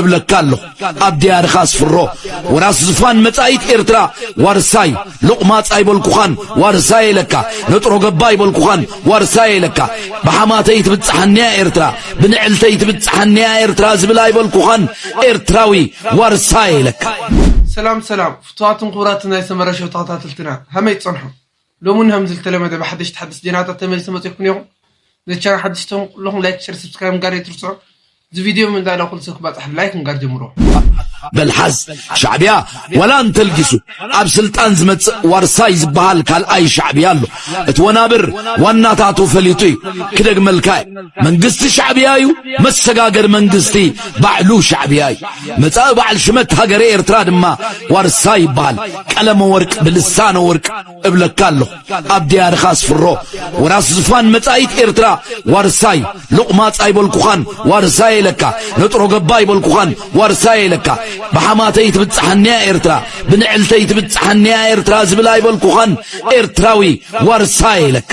እብለካ ኣለኹ ኣብ ድያርኻ ኣስፍሮ ወራስ ዝፋን መጻኢት ኤርትራ ዋርሳይ ሎቕማጽ ኣይበልኩኻን ዋርሳይ ኢለካ ነጥሮ ገባ ኣይበልኩኻን ዋርሳይ ኢለካ ብሓማተይ ትብጽሓኒያ ኤርትራ ብንዕልተይ ትብጽሓኒያ ኤርትራ ዝብል ኣይበልኩኻን ኤርትራዊ ዋርሳይ ኢለካ ሰላም ሰላም ፍቱዋትን ክቡራትን ናይ ሰመረ ሾው ተኸታተልትና ሀመይ ትጸንሑ ሎሚ ውን ከምዚ ዝተለመደ ብሓደሽቲ ሓደስቲ ዜናታት ተመሊሰ መጺኹም ኔኹ ነዚ ቻናል ሓደሽቲ ትኹም ኩሉኹም ላይክ ሸር ሰብስክራይብ ምጋር ኣይትርስዑ እዚ ቪድዮ ም እንዳ ዳኹ ልሰብ ክባጻሕ ብላይክ ምጋር ጀምርዎ። በልሓዝ ሻዕቢያ ወላ እንተልጊሱ ኣብ ስልጣን ዝመጽእ ዋርሳይ ዝበሃል ካልኣይ ሻዕቢያ ኣሎ። እቲ ወናብር ዋናታቱ ፈሊጡ እዩ። ክደግመልካ እዩ፣ መንግስቲ ሻዕቢያ እዩ፣ መሰጋገሪ መንግስቲ ባዕሉ ሻዕቢያ እዩ። መጻኢ በዓል ሽመት ሃገረ ኤርትራ ድማ ዋርሳይ ይበሃል። ቀለመ ወርቅ ብልሳነ ወርቅ እብለካ ኣለኹ ኣብ ድያርኻ ኣስፍሮ ወራስ ዝፋን መጻኢት ኤርትራ ዋርሳይ ሎቕማጽ ኣይበልኩኻን ዋርሳይ ኢለካ ነጥሮ ገባ ኣይበልኩኻን ዋርሳይ ኢለካ ብሓማተይ ትብጽሓኒያ ኤርትራ ብንዕልተይ ትብጽሓኒያ ኤርትራ ዝብል ኣይበልኩኻን ኤርትራዊ ዋርሳይ ኢለካ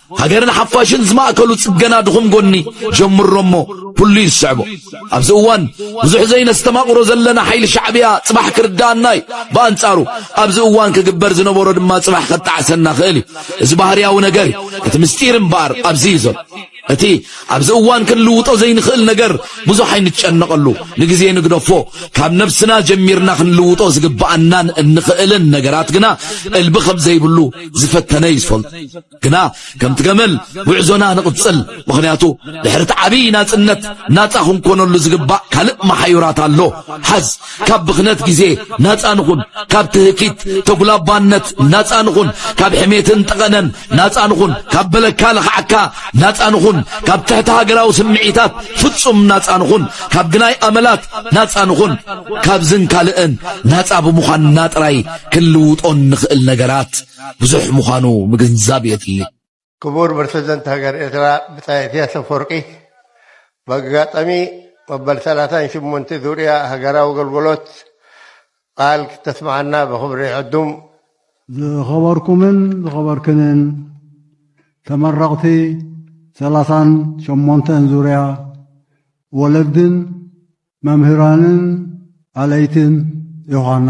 ሃገርን ሓፋሽን ዝማእከሉ ጽገና ድኹም ጎኒ ጀምሮ እሞ ኩሉ እዩ ዝስዕቦ። ኣብዚ እዋን ብዙሕ ዘይነስተማቕሮ ዘለና ሓይሊ ሻዕብያ ጽባሕ ክርዳኣና እዩ። ብኣንጻሩ ኣብዚ እዋን ክግበር ዝነበሮ ድማ ጽባሕ ከጣዕሰና ክእል እዩ። እዚ ባህርያዊ ነገር እዩ። እቲ ምስጢር እምበኣር ኣብዚ እዩ ዘሎ። እቲ ኣብዚ እዋን ክንልውጦ ዘይንኽእል ነገር ብዙሕ ኣይንጨነቐሉ፣ ንግዜ ንግደፎ። ካብ ነብስና ጀሚርና ክንልውጦ ዝግብኣናን እንኽእልን ነገራት ግና እልቢ ከም ዘይብሉ ዝፈተነ እዩ ዝፈልጦ። ግና ከምቲ ገመል ጉዕዞና ንቕጽል፣ ምኽንያቱ ድሕሪ እቲ ዓብዪ ናጽነት ናጻ ክንኮነሉ ዝግባእ ካልእ መሓዩራት ኣሎ። ሓዝ። ካብ ብኽነት ግዜ ናጻ ንኹን፣ ካብ ትህኪት ተጉላባነት ናጻ ንኹን፣ ካብ ሕሜትን ጠቐነን ናጻ ንኹን፣ ካብ በለካ ለኽዓካ ናጻ ንኹን፣ ካብ ትሕቲ ሃገራዊ ስምዒታት ፍጹም ናጻ ንኹን፣ ካብ ግናይ ኣመላት ናጻ ንኹን፣ ካብዝን ካልእን ናጻ ብምዃንና ጥራይ ክንልውጦ እንኽእል ነገራት ብዙሕ ምዃኑ ምግንዛብ የድሊ። ክቡር ፕረሲደንት ሃገር ኤርትራ ብጻይ ኢሰያስ ኣፈወርቂ፣ ብኣጋጣሚ መበል ሰላሳን ሸሞንተ ዙርያ ሃገራዊ ኣገልግሎት ቃል ክተስምዓና ብኽብሪ ዕዱም። ዝኸበርኩምን ዝኸበርክንን ተመረቕቲ ሰላሳን ሸሞንተን ዙርያ ወለድን መምህራንን ኣለይትን ዮሃና፣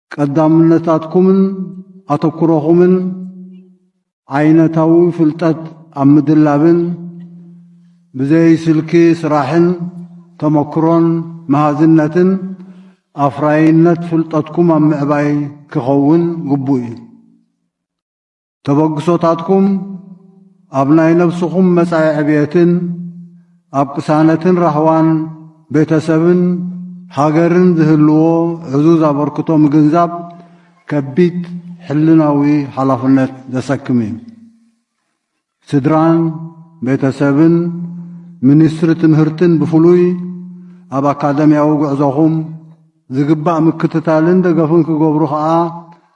ቀዳምነታትኩምን ኣተኩሮኹምን ዓይነታዊ ፍልጠት ኣብ ምድላብን ብዘይ ስልኪ ስራሕን ተመክሮን መሃዝነትን ኣፍራይነት ፍልጠትኩም ኣብ ምዕባይ ክኸውን ግቡእ እዩ። ተበግሶታትኩም ኣብ ናይ ነብስኹም መጻኢ ዕብየትን ኣብ ቅሳነትን ራህዋን ቤተሰብን ሃገርን ዝህልዎ ዕዙዝ ኣበርክቶ ምግንዛብ ከቢድ ሕልናዊ ሓላፍነት ዘሰክም እዩ። ስድራን ቤተሰብን ሚኒስትሪ ትምህርትን ብፍሉይ ኣብ ኣካደምያዊ ጉዕዞኹም ዝግባእ ምክትታልን ደገፍን ክገብሩ ከኣ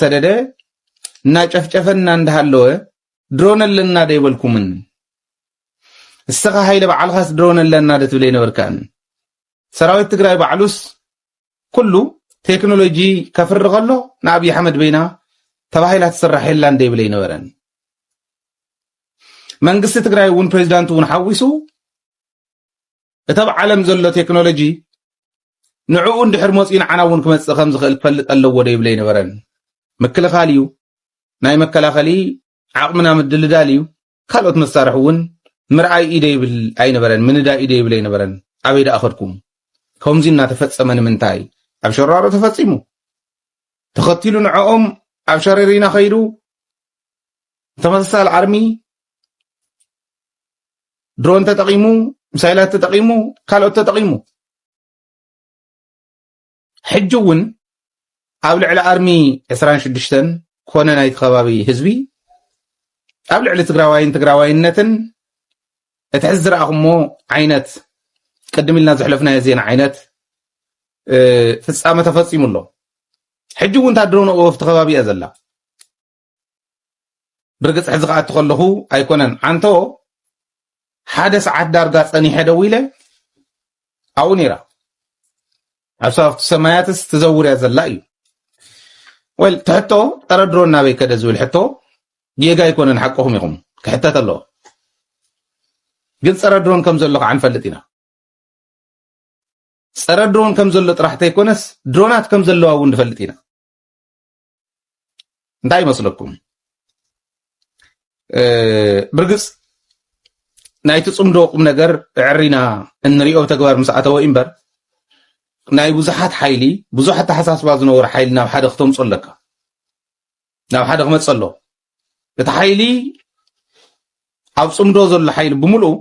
ሰደደ እናጨፍጨፈና እንዳሃለወ ድሮን ኣለና ዶ ይበልኩምን እስተኻ ሃይለ በዓልኻስ ድሮን ኣለና ዶ ትብለ ይነበርካን ሰራዊት ትግራይ ባዕሉስ ኩሉ ቴክኖሎጂ ከፍሪ ከሎ ንኣብዪ ኣሕመድ በይና ተባሂላ ትስራሕ የላ እንደ ይብለ ይነበረን መንግስቲ ትግራይ እውን ፕሬዚዳንት እውን ሓዊሱ እቲ ኣብ ዓለም ዘሎ ቴክኖሎጂ ንዕኡ እንድሕር መፅኡ ንዓና እውን ክመፅእ ከም ዝኽእል ክፈልጥ ኣለዎ ዶ ይብለ ይነበረን ምክልኻል እዩ ናይ መከላኸሊ ዓቕምና ምድልዳል እዩ ካልኦት መሳርሒ እውን ምርኣይ ኢደ ይብል ኣይነበረን ምንዳይ ኢደ ይብል ኣይነበረን ኣበይ ደኣ ከድኩም ከምዚ እናተፈፀመ ንምንታይ ኣብ ሸራሮ ተፈፂሙ ተኸቲሉ ንዕኦም ኣብ ሸረሪና ከይዱ ተመሳሳሊ ኣርሚ ድሮን ተጠቒሙ ሚሳይላት ተጠቒሙ ካልኦት ተጠቒሙ ሕጂ እውን ኣብ ልዕሊ ኣርሚ 26 ኮነ ናይቲ ከባቢ ህዝቢ ኣብ ልዕሊ ትግራዋይን ትግራዋይነትን እቲ ሕዚ ዝረኣኹሞ ዓይነት ቅድም ኢልና ዘሕለፍናዮ ዜና ዓይነት ፍፃመ ተፈፂሙ ኣሎ ሕጂ እውን እታ ድሮን ወፍቲ ከባቢ እያ ዘላ ብርግጽ ሕዚ ክኣቱ ከለኹ ኣይኮነን ዓንቶ ሓደ ሰዓት ዳርጋ ጸኒሐ ደው ኢለ ኣብኡ ነይራ ኣብ ሰባብቲ ሰማያትስ ትዘውርያ ዘላ እዩ ወይ ትሕቶ ጸረ ድሮ እናበይ ከደ ዝብል ሕቶ ጌጋ ኣይኮነን ሓቅኹም ኢኹም ክሕተት ኣለዎ ግን ጸረ ድሮን ከም ዘሎ ከዓ ንፈልጥ ኢና ጸረ ድሮን ከም ዘሎ ጥራሕ ተይኮነስ ድሮናት ከም ዘለዋ እውን ንፈልጥ ኢና እንታይ ይመስለኩም ብርግፅ ናይቲ ፅምዶ ቁም ነገር ዕሪና እንሪኦ ተግባር ምስ ኣተወ እምበር ናይ ብዙሓት ሓይሊ ብዙሕ ኣተሓሳስባ ዝነበሩ ሓይሊ ናብ ሓደ ክተምፆ ኣለካ ናብ ሓደ ክመፅ ኣሎ እቲ ሓይሊ ኣብ ፅምዶ ዘሎ ሓይሊ ብምልኡ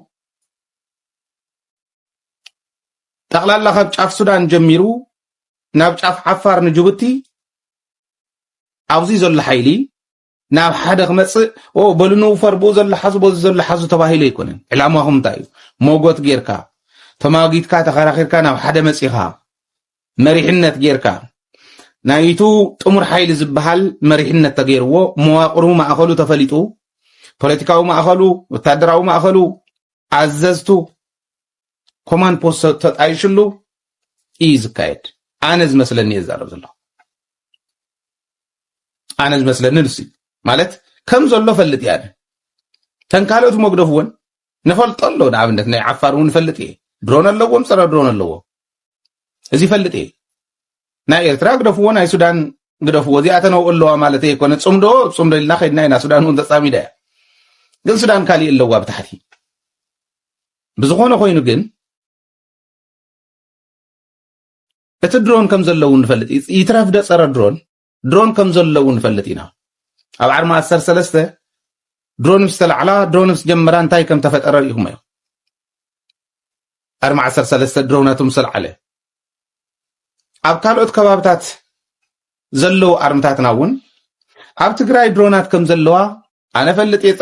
ጠቕላላ ካብ ጫፍ ሱዳን ጀሚሩ ናብ ጫፍ ዓፋር ንጅቡቲ ኣብዚ ዘሎ ሓይሊ ናብ ሓደ ክመፅእ ኦ በሉ ንውፈር ብኡ ዘሎ ሓዙ በዚ ዘሎ ሓዙ ተባሂሉ ኣይኮነን ዕላማኹም እንታይ እዩ ሞጎት ጌርካ ተማጊትካ ተኸራኺርካ ናብ ሓደ መፂኻ መሪሕነት ጌርካ ናይቱ ጥሙር ሓይሊ ዝበሃል መሪሕነት ተገይርዎ መዋቅሩ ማእኸሉ ተፈሊጡ ፖለቲካዊ ማእኸሉ ወታደራዊ ማእኸሉ ኣዘዝቱ ኮማን ፖስት ተጣይሽሉ እዩ ዝካየድ ኣነ ዝመስለኒ እየ ዝዛረብ ዘለኹ ኣነ ዝመስለኒ ንሱ ማለት ከም ዘሎ ፈልጥ እያ ተን ካልኦት መጉደፍ እውን ንፈልጦ ኣሎ ንኣብነት ናይ ዓፋር እውን ፈልጥ እየ ድሮን ኣለዎም ፀረ ድሮን ኣለዎ እዚ ይፈልጥ እየ ናይ ኤርትራ ግደፍዎ ናይ ሱዳን ግደፍዎ እዚኣ ተነውኦ ኣለዋ ማለት ኣይኮነ ፅምዶ ፅምዶ ኢልና ከድና ኢና ሱዳን እውን ተፃሚዳ እያ ግን ሱዳን ካሊእ ኣለዋ ብታሕቲ ብዝኾነ ኮይኑ ግን እቲ ድሮን ከም ዘለዉ ንፈልጥ ይትረፍ ደ ፀረ ድሮን ድሮን ከም ዘሎ እውን ንፈልጥ ኢና። ኣብ ዓርሚ ኣሰር ሰለስተ ድሮን ምስ ተላዕላ ድሮን ምስ ጀመራ እንታይ ከም ተፈጠረ ርኢኹም እዮም። ዓርሚ ዓሰር ሰለስተ ድሮናቱ ምስ ተላዕለ ኣብ ካልኦት ከባብታት ዘለዉ ኣርምታትና እውን ኣብ ትግራይ ድሮናት ከም ዘለዋ ኣነ ፈልጥ እየ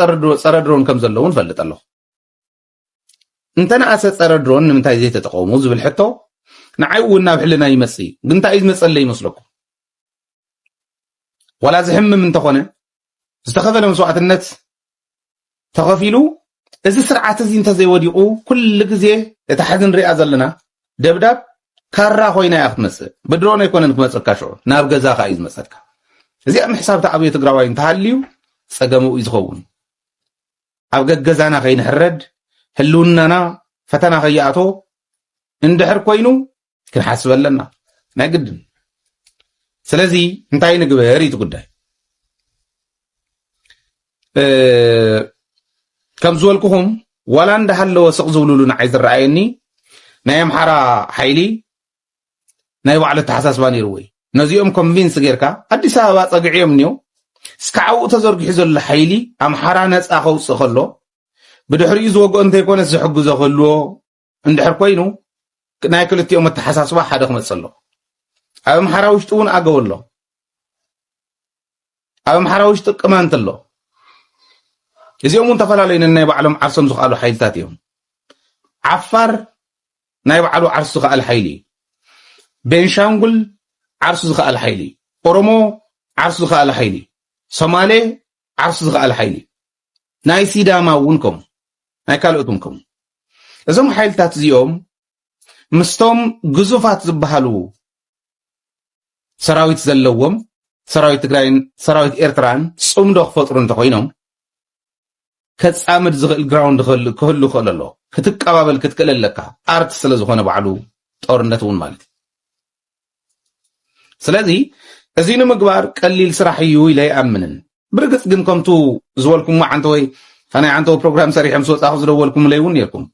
ፀረ ድሮን ከም ዘለዉ ንፈልጥ ኣለኹ እንተነኣሰ ጸረ ድሮን ንምንታይ ዘይተጠቐሙ ዝብል ሕቶ ንዓይ እውን ናብ ሕልና ይመጽእ እዩ ግን እንታይ እዩ ዝመጸለይ ይመስለኩም ዋላ ዝሕምም እንተኾነ ዝተኸፈለ መስዋዕትነት ተኸፊሉ እዚ ስርዓት እዚ እንተዘይወዲቑ ኩሉ ግዜ እታ ሕዚ ንሪኣ ዘለና ደብዳብ ካራ ኮይና እያ ክትመፅእ ብድሮን ኣይኮነን ክመፀካ ሽዑ ናብ ገዛኻ እዩ ዝመፀካ እዚኣ ምሕሳብ ተኣብዮ ትግራዋይ እንተሃልዩ ፀገሙ እዩ ዝኸውን ኣብ ገገዛና ከይንሕረድ ህልውናና ፈተና ከይኣቶ እንድሕር ኮይኑ ክንሓስበ ኣለና ናይ ግድን ስለዚ እንታይ ንግበር እዩ ጉዳይ ከም ዝበልኩኹም ዋላ እንዳሃለወ ስቕ ዝብልሉ ንዓይ ዝረኣየኒ ናይ ኣምሓራ ሓይሊ ናይ ባዕሉ ኣተሓሳስባ ነይርዎ እዩ። ነዚኦም ኮንቪንስ ጌርካ ኣዲስ ኣበባ ጸግዕዮም እኒኦ እስካዕ ኣብኡ ተዘርጊሑ ዘሎ ሓይሊ ኣምሓራ ነፃ ከውፅእ ከሎ ብድሕሪኡ ዝወግኦ እንተይኮነስ ዝሕግዞ ክህልዎ እንድሕር ኮይኑ ናይ ክልቲኦም ኣተሓሳስባ ሓደ ክመፅእ ኣሎ ኣብ ኣምሓራ ውሽጢ እውን ኣገው ኣሎ ኣብ ኣምሓራ ውሽጢ ቅማንት ኣሎ። እዚኦም እውን ተፈላለዩ ነናይ ባዕሎም ዓርሶም ዝኸኣሉ ሓይልታት እዮም። ዓፋር ናይ ባዕሉ ዓርሱ ዝኸኣለ ሓይሊ እዩ። ቤንሻንጉል ዓርሱ ዝኸኣለ ሓይሊ እዩ። ኦሮሞ ዓርሱ ዝኸኣለ ሓይሊ እዩ። ሶማሌ ዓርሱ ዝኸኣለ ሓይሊ እዩ። ናይ ሲዳማ እውን ከምኡ ናይ ካልኦት እውን ከምኡ እዞም ሓይልታት እዚኦም ምስቶም ግዙፋት ዝበሃሉ ሰራዊት ዘለዎም ሰራዊት ትግራይን ሰራዊት ኤርትራን ጽምዶ ክፈጥሩ እንተኾይኖም ከጻምድ ዝኽእል ግራውንድ ክህሉ ክእል ኣሎ ክትቀባበል ክትክእል ኣለካ ኣርት ስለ ዝኾነ ባዕሉ ጦርነት እውን ማለት እዩ ስለዚ እዚ ንምግባር ቀሊል ስራሕ እዩ ኢለ ይኣምንን ብርግጽ ግን ከምቱ ዝበልኩሞ ዓንተወይ ናይ ዓንተወ ፕሮግራም ሰሪሐም ስወፃኹ ዝደወልኩምለይ እውን ነርኩም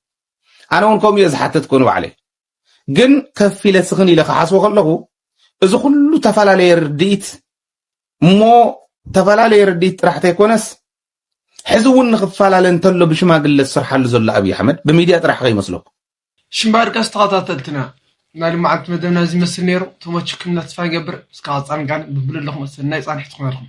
ኣነ እውን ከምኡ እየ ዝሓተትኮ ንባዕለይ ግን ከፍ ኢለ ስኽን ኢለ ክሓስቦ ከለኹ እዚ ኩሉ ተፈላለየ ርድኢት እሞ ተፈላለየ ርድኢት ጥራሕ ተይኮነስ ሕዚ እውን ንክፈላለ እንተሎ ብሽማግለ ዝስርሓሉ ዘሎ ኣብዪ ኣሕመድ ብሚድያ ጥራሕ ከይመስለኩም ሽምባርቀስ ተኸታተልትና ናይ ልምዓት መደብና እዚ መስል ነይሩ ተመችኩም እና ተስፋ ንገብር እስካብ ፃንጋን ብብሉ ኣለኹም ሰናይ ፃንሒት ክኾነልኩም